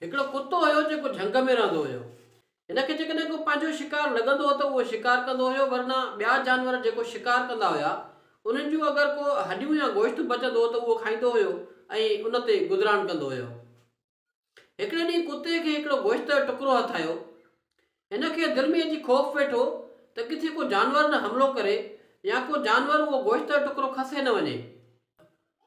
هڪڙو ڪتو هيو جيڪو جهنگ ۾ رهندو هيو. هن کي جيڪڏهن ڪو پنهنجو شڪار لڳندو هو ته اهو شڪار ڪندو هيو ورنه ٻيا جانور جيڪو شڪار ڪندا هيا انهن جون اگر ڪو هڏيون يا گوشت بچندو هو ته اهو کائيندو هيو ۽ ان تي گذران ڪندو هيو. هڪڙي ڏينهن ڪتي کي هڪڙو گوشت جو ٽڪرو هٿ آيو. هن کي دل ۾ اچي خوف ويٺو ته ڪٿي ڪو جانور نه حملو ڪري يا ڪو جانور اهو گوشتر ٽڪرو کسي نه وڃي.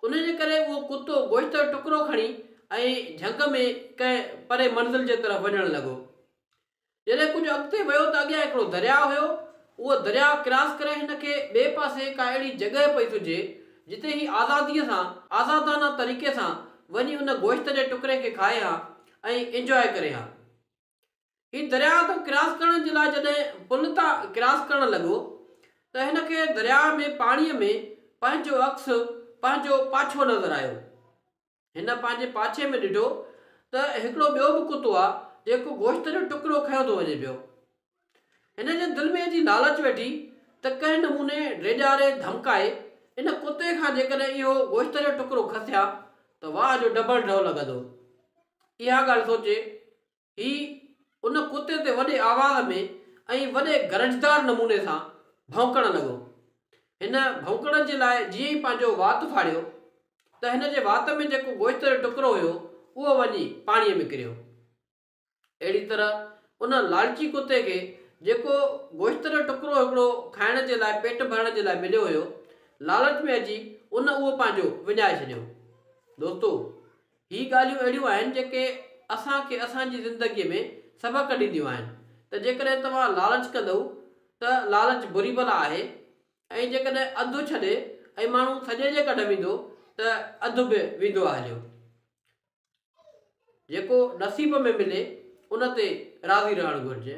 ان جي ڪري اهو ڪتو گوشتر ٽڪرو کڻي ۽ جهنگ ۾ ڪنهن پري منزل جي طرف وڃڻ لڳو. جڏهن ڪجهه اڳتي ويو ته اڳيان هڪڙو درياء هيو. اهو درياء ڪراس ڪري هن کي ٻئي پاسي ڪا اهڙي جڳهه پئي سجهي جتي هي آزاديء سان، آزادانه طريقي سان وڃي ان گوشت جي ٽڪري کي کائي ها ۽ انجواء ڪري ها. هي درياهه تان ڪراس ڪرڻ جي لاء جڏهن پل تان ڪراس ڪرڻ لڳو ته هن کي درياهه ۾ پاڻيء ۾ پنهنجو عڪس، پنهنجو پاڇو نظر آيو. هن پنهنجي پاڇي ۾ ڏٺو ته هڪڙو ٻيو به ڪتو آ جيڪو گوشت جو ٽڪرو کنيو ٿو وڃي پيو. هن جي دل ۾ ايتري لالچ ويٺي ته ڪنهن نموني ڊيڄاري ڌمڪائي ان ڪتي کان جيڪڏهن اهو گوشت جو ٽڪرو کسي ها ته واهه جو ڊبل ڍؤ لڳندو. اها ڳالهه سوچي هي ان ڪتي تي وڏي آواز ۾ ۽ وڏي گرجدار نموني سان ڀونڪڻ لڳو. هن ڀونڪڻ جي لاء جيئن ئي پنهنجو وات ڦاڙيو ته هن جي وات ۾ جيڪو گوشت جو ٽڪرو هيو اهو وڃي پاڻيء ۾ ڪريو. اهڙي طرح ان لالچي ڪتي کي جيڪو گوشت جو ٽڪرو هڪڙو کائڻ جي لاء پيٽ ڀرڻ جي لاء مليو هيو، لالچ ۾ اچي ان اهو پنهنجو وڃائي ڇڏيو. دوستو! هي ڳالهيون اهڙيون آهن جيڪي اسان کي اسان جي زندگي ۾ سبق ڏينديون آهن ته جيڪڏهن توهان لالچ ڪندؤ ته لالچ بري بلا آهي ۽ جيڪڏهن اڌ ڇڏي ۽ ماڻهو سڄي جي ڪڍ ويندو ته اڌ به ويندو آ هليو. جيڪو نصيب ۾ ملي ان تي راضي رهڻ گهرجي.